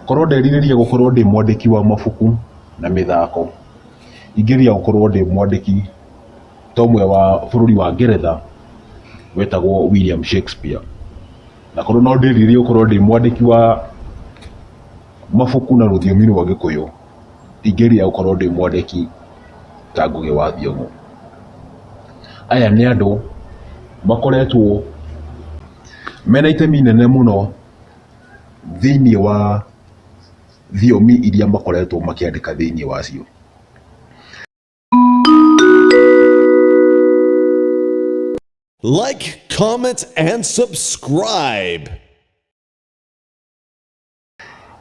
Korwo nderirĩria gũkorwo ndĩ mwandĩki wa mabuku na mĩthako, ingĩrĩria gũkorwo ndĩ mwandĩki ta ũmwe wa bũrũri wa Ngeretha wetagwo William Shakespeare. Na korwo no ndĩrirĩrie gũkorwo ndĩ mwandĩki wa mabuku na rũthiomi rwa Gĩkũyũ, ingĩrĩria gũkorwo ndĩ mwandĩki ta Ngũgĩ wa Thiong'o. Aya nĩ andũ makoretwo mena itemi inene mũno. thĩinĩ wa thiomi iria makoretwo makĩandĩka thĩinĩ wacio. Like, comment, and subscribe.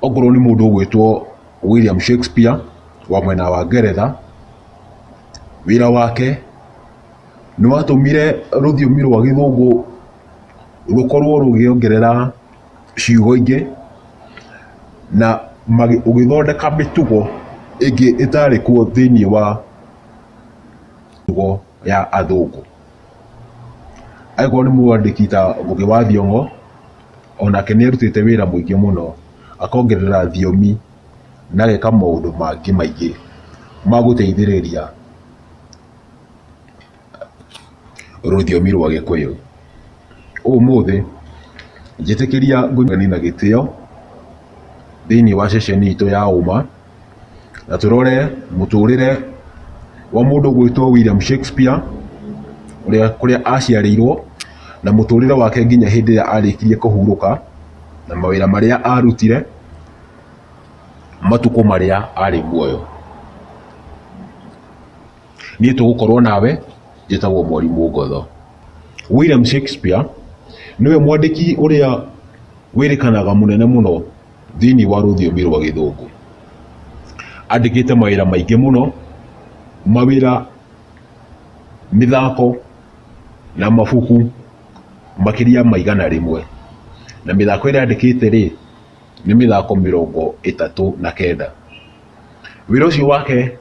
Okorwo nĩ mũndũ ũgwĩtwo William Shakespeare wa mwena wa Ngeretha, wĩra wake nĩ watũmire rũthiomi rwa gĩthũngũ rũkorwo rũgĩongerera ciugo ingĩ na ũgĩthondeka mĩtugo ĩngĩ ĩtarĩ kuo thĩinĩ wa mĩtugo ya athũngũ. Angĩkorwo nĩ mwandĩki ta Ngũgĩ wa Thiong'o, onake nĩ arutĩte wĩra mũingĩ mũno akongerera thiomi na ageka maũndũ mangĩ maingĩ magũteithĩrĩria. rũthiomi rwa gĩkũyũ. Ũmũthĩ njĩtĩkĩria ngũgeni na gĩtĩo thĩinĩ wa ceceni itũ ya ũma na tũrore mũtũrĩre wa mũndũ ũgwĩtwo William Shakespeare ũrĩa kũrĩa aciarĩirwo na mũtũrĩre wake nginya hĩndĩ ĩrĩa arĩkirie kũhurũka na mawĩra marĩa arutire matukũ marĩa arĩ muoyo. niĩ tũgũkorwo nawe njĩtagwo mwarimũ ngotho william shakespeare nĩwe mwandĩki ũrĩa wĩrĩkanaga mũnene mũno thĩinĩ wa rũthiomi rwa gĩthũngũ andĩkĩte mawĩra maingĩ mũno mawĩra mĩthako na mabuku makĩria maigana rĩmwe na mĩthako ĩrĩa andĩkĩte rĩ nĩ mĩthako mĩrongo ĩtatũ na kenda wĩra ũcio wake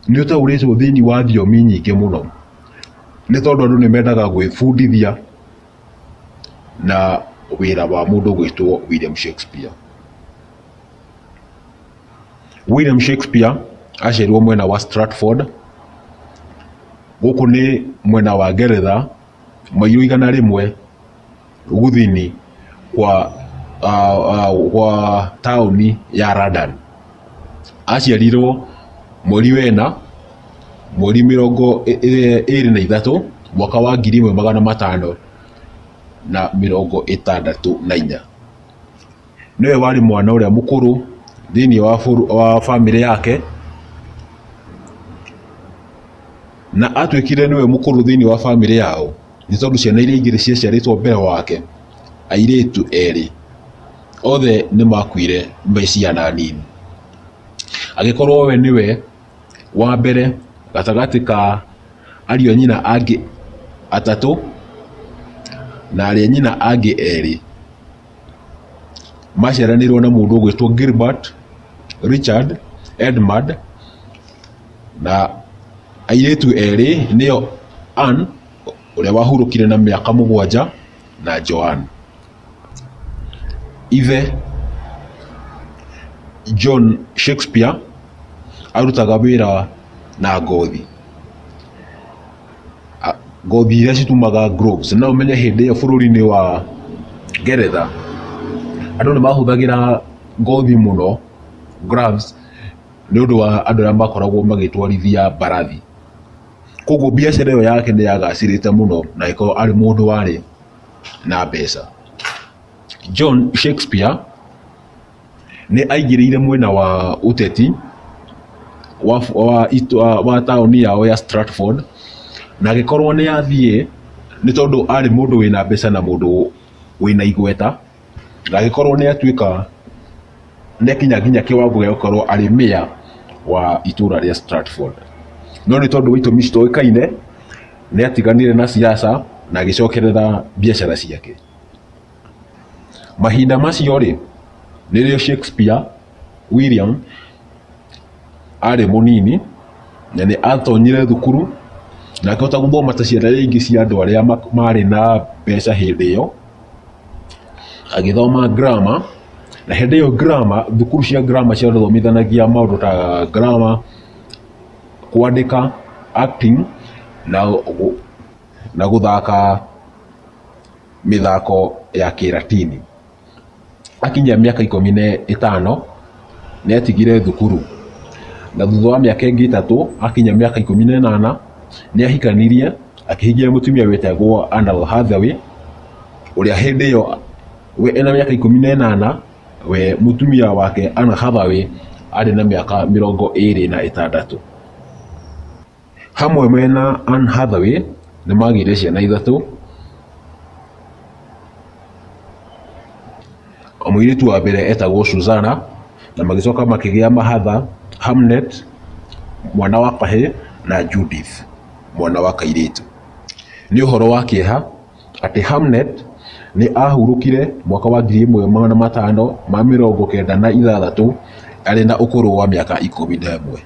nĩ ũtaũrĩtwo thĩinĩ wa thiomi nyingĩ mũno nĩ tondũ andũ nĩ mendaga gwĩbundithia na wĩra wa mũndũ ũgwĩtwo William Shakespeare. William Shakespeare aciarirwo mwena wa Stratford, gũkũ nĩ mwena wa Ngeretha mairũ igana rĩmwe gũthini kwa, uh, uh, kwa taũni ya London. Aciarirwo mweri wena mweri mĩrongo ĩ- ĩ- ĩrĩ na ithatũ mwaka wa ngiri ĩmwe magana matano na mĩrongo ĩtandatũ na inya. nĩwe warĩ mwana ũrĩa mũkũrũ thĩinĩ wa, bũrũ- wa bamĩrĩ yake na atuĩkire nĩwe mũkũrũ thĩinĩ wa bamĩrĩ yao nĩ tondũ ciana iria ingĩ ciaciarĩtwo mbere wake airĩtu erĩ othe nĩ makuire me ciana nini agĩkorwo we nĩwe wa mbere gatagatĩ ka ariũ a nyina angĩ atatũ na arĩa nyina angĩ erĩ maciaranĩirwo na mũndũ ũgwĩtwo Gilbert Richard Edmund na airĩtu erĩ nĩo Ann ũrĩa wahurũkire na mĩaka mũgwanja na Joan. Ithe John Shakespeare arutaga wĩra na ngothi. a- ngothi iria citumaga groves na ũmenye hĩndĩ ĩyo bũrũri-inĩ wa ngeretha andũ nĩ mahũthagĩra ngothi mũno gloves nĩ ũndũ wa andũ arĩa makoragwo magĩtwarithia mbarathi koguo biacara ĩyo yake nĩ yagacĩrĩte mũno na ĩkorwo arĩ mũndũ warĩ na mbeca john shakespeare Nĩ aingĩrĩire mwena wa ũteti wa, wa, wa, wa taũni yao ya Stratford na agĩkorwo nĩ athiĩ nĩ tondũ arĩ mũndũ wĩna mbeca na mũndũ wĩna igweta na agĩkorwo nĩ atuĩka nĩ akinya nginya kĩwango gĩa gũkorwo arĩ mĩa wa itũra rĩa Stratford no nĩ tondũ wa itũmi citoĩkaine nĩ atiganire na siasa na agĩcokerera biacara ciake. mahinda macio rĩ rĩrĩa shakespeare william arĩ mũnini na nĩ atonyire thukuru na akĩhota gũthoma ta ciana iria ingĩ cia andũ arĩa ma- marĩ na mbeca hĩndĩ ĩyo agĩthoma grammar na hĩndĩ ĩyo grammar thukuru cia grammar ciathomithanagia maũndũ ta grammar kwandĩka acting na, gũ- na gũthaka mĩthako ya kĩratini. Akinyia mĩaka ikũmi na ĩtano nĩ atigire thukuru na thutha wa mĩaka ĩngĩ ĩtatũ akinyia mĩaka ikũmi na ĩnana nĩ ahikanirie akĩhikia mũtumia wĩtagwo Anal Hathaway ũrĩa hĩndĩ ĩyo we ena mĩaka ikũmi na ĩnana we mũtumia wake Anna Hathaway arĩ na mĩaka mĩrongo ĩrĩ na ĩtandatũ. Hamwe mena Anne Hathaway nĩ magĩire ciana ithatũ. Mũirĩtu wa mbere etagwo Suzana na magĩcoka makĩgĩa mahatha Hamnet mwana wa kahĩ na Judith mwana wa kairĩtu. Nĩ ũhoro wa kĩeha atĩ Hamnet nĩ ahurũkire mwaka wa ngiri ĩmwe magana matano ma mĩrongo kenda na ithathatũ arĩ na ũkũrũ wa mĩaka ikũmi na ĩmwe.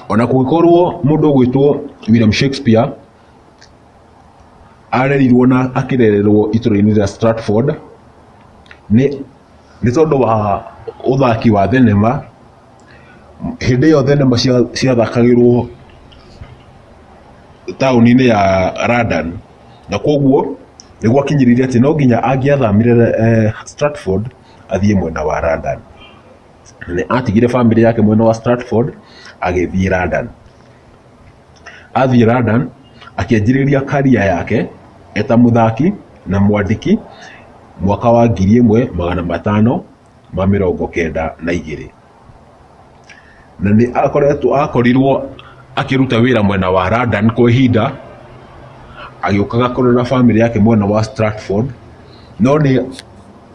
ona kũngĩkorwo mũndũ ũgwĩtwo William Shakespeare arerirwo na akĩrererwo itũra-inĩ rĩa Stratford nĩ nĩ tondũ wa ũthaki wa thenema hĩndĩ ĩyo thenema cia- ciathakagĩrwo taũni-inĩ ya London na kwoguo nĩ gwakinyĩrire atĩ no nginya angĩathamire eh, Stratford athiĩ mwena wa London nĩ atigire family yake mwena wa Stratford agĩthiĩ London athiĩ London akĩanjĩrĩria karia yake eta mũthaki na mwandĩki mwaka wa ngiri ĩmwe magana matano ma mĩrongo kenda na igĩrĩ na nĩ akoretwo akorirwo akĩruta wĩra mwena wa London kwa ihinda agĩũkaga kũrora family yake mwena wa Stratford no nĩ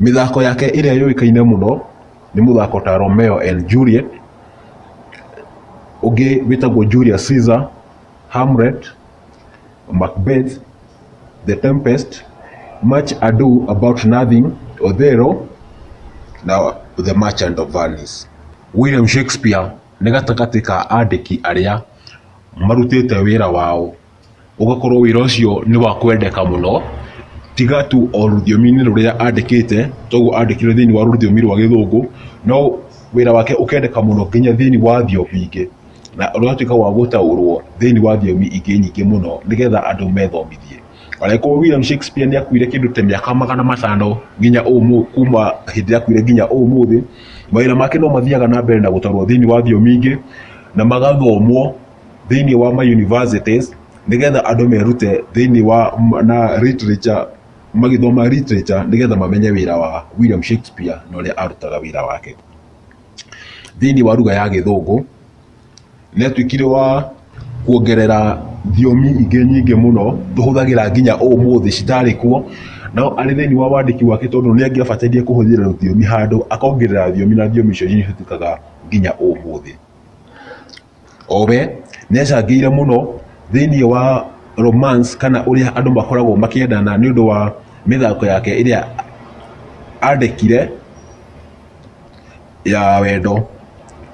Mĩthako yake ĩrĩa yũĩkaine mũno nĩ mũthako ta Romeo and Juliet, ũngĩ wĩtagwo Julius Caesar, Hamlet, Macbeth, The Tempest, Much Ado About Nothing, Othello na The Merchant of Venice. William Shakespeare nĩ gatagatĩ ka andĩki arĩa marutĩte wĩra wao ũgakorwo wĩra ũcio nĩ wa kwendeka mũno, tiga tu o rũthiomi-inĩ rũrĩa andĩkĩte, toguo andĩkire thĩiniĩ wa rũthiomi rwa gĩthũngũ, no wĩra wake ũkendeka mũno nginya thĩiniĩ wa thiomi ingĩ, na ũgatuĩka wa gũtaũrwo thĩiniĩ wa thiomi ingĩ nyingĩ mũno nĩgetha andũ methomithie. Angĩkorwo William Shakespeare nĩ akuire kĩndũ ta mĩaka magana matano nginya ũmũthĩ kuma hĩndĩ ĩrĩa akuire nginya ũmũthĩ, mawĩra make no mathiaga na mbere na gũtarwo thĩiniĩ wa thiomi ingĩ, na magathomwo. thĩinĩ wa ma universities nĩgetha andũ merute thĩinĩ wa m- na literature magĩthoma literature nĩgetha mamenye wĩra wa William Shakespeare na ũrĩa arutaga wĩra wake thĩinĩ wa lugha ya gĩthũngũ nĩatuĩkire wa kuongerera thiomi ingĩ nyingĩ mũno tũhũthagĩra nginya ũmũthĩ citarĩ kuo no arĩ thĩinĩ wa wandĩki wake tondũ nĩ angĩabataire kũhũthĩra rũthiomi handũ akongerera thiomi na thiomi icio nĩ cihũthĩkaga nginya ũmũthĩ o we nĩ acangĩire mũno thĩinĩ wa romance kana ũrĩa andũ makoragwo makĩendana nĩ ũndũ wa mĩthako yake ĩrĩa andĩkire ya wendo.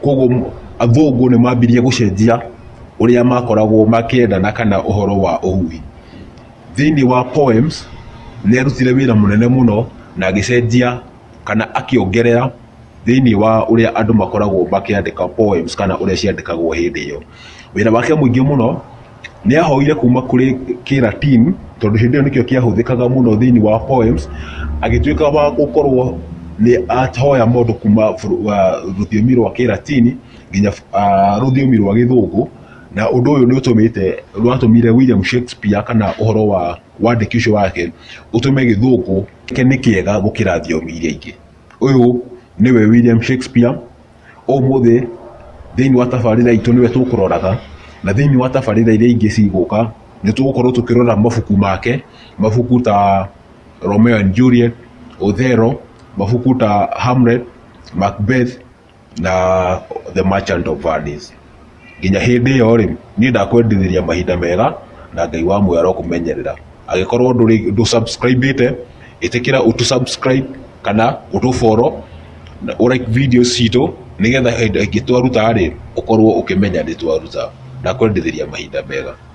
Kwoguo athũngũ nĩ mambirie gũcenjia ũrĩa makoragwo makĩendana kana ũhoro wa ũhuhi. Thĩinĩ wa poems nĩ arutire wĩra mũnene mũno na agĩcenjia... kana akĩongerera thĩinĩ wa ũrĩa andũ makoragwo makĩandĩka poems kana ũrĩa ciandĩkagwo hĩndĩ ĩyo. Wĩra wake mũingĩ mũno nĩ ahoire kuma kũrĩ Kĩra Team tondũ hĩndĩ ĩyo nĩkĩo kĩahũthĩkaga mũno thĩinĩ wa poems, agĩtuĩka wa gũkorwo nĩ ahoya mũndũ kuma rũthiomi rwa Kĩra Team nginya rũthiomi rwa Gĩthũngũ, na ũndũ ũyũ nĩ ũtũmĩte, nĩ watũmire William Shakespeare kana ũhoro wa wandĩki ũcio wake ũtũme Gĩthũngũ... gĩake nĩ kĩega gũkĩra thiomi iria ingĩ. Ũyũ nĩwe William Shakespeare, ũmũthĩ thĩinĩ wa tabarĩra itũ nĩwe tũkũroraga, na thĩinĩ wa tabarĩra iria ingĩ cigũka nĩ tũgũkorwo tũkĩrora mabuku make, mabuku ta Romeo and Juliet, Othello, mabuku ta Hamlet, Macbeth. na the merchant of Hades nginya hĩndĩ ĩyo rĩ niĩ ndakwendithĩria mahinda mega na ngai wa muoyo arokũmenyerera agĩkorwo ndũrĩ ndũ subscribĩte ĩtĩkĩra ũtu subscribe kana ũtũ follow na ũ like video citũ nĩgetha hĩndĩ ĩngĩ twaruta rĩ ũkorwo ũkĩmenya nĩ twaruta ndakwendithĩria mahinda mega